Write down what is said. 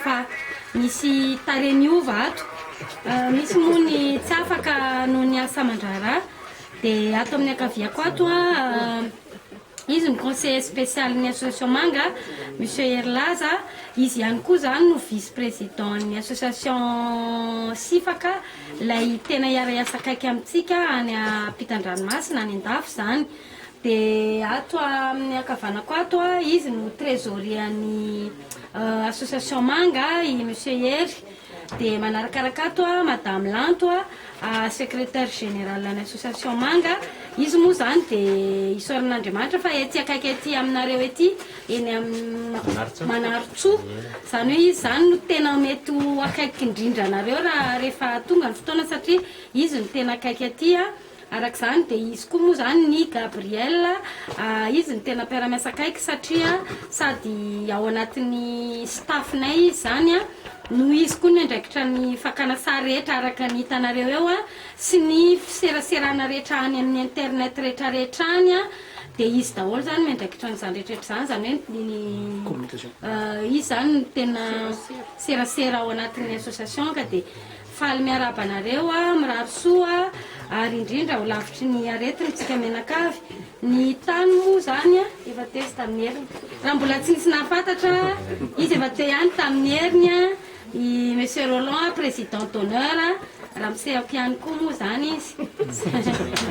Fa misy tarehy miova ato. Misy moa ny tsy afaka noho ny asa aman-draharaha. Dia ato amin'ny ankaviako ato, izy no conseiller spécial ny association Manga, Monsieur Hery Laza. Izy ihany koa izany no vice président ny association Sifaka, ilay tena hiara-hiasa akaiky amintsika any ampitan-dranomasina, any an-dafy izany. Dia ato amin'ny ankavanako ato, izy no trésorier-n'ny association Manga i Monsieur Hery. Dia manarakaraka ato Madame Lanto, secrétaire générale-n'ny association Manga. Izy moa izany dia isaoran'Andriamanitra fa ety akaiky ety aminareo ety, eny amin'ny Manarintsoa. Izany hoe izy izany no tena mety ho akaiky indrindra anareo raha rehefa tonga ny fotoana satria izy no tena akaiky aty. Araka izany dia izy koa moa izany ny Gabriel, izy no tena mpiara-miasa akaiky satria sady ao anatin'ny staff-nay izy izany no izy koa no miandraikitra ny fakana sary rehetra araka ny hitanareo eo sy ny fiseraserana rehetra any amin'ny internet rehetrarehetra any dia izy daholo izany no miandraikitra an'izany rehetrarehetra izany, izany hoe ny izy izany no tena serasera ao anatin'ny association ka dia Faly miarahaba anareo aho, mirary soa ary indrindra ho lavitry ny aretina isika mianakavy. Ny tany moa izany efa teo izy tamin'ny heriny. Raha mbola tsy nisy nahafantatra, izy efa teo ihany tamin'ny heriny i Monsieur Rolland, Président d'honneur, raha misehako ihany koa moa izany izy.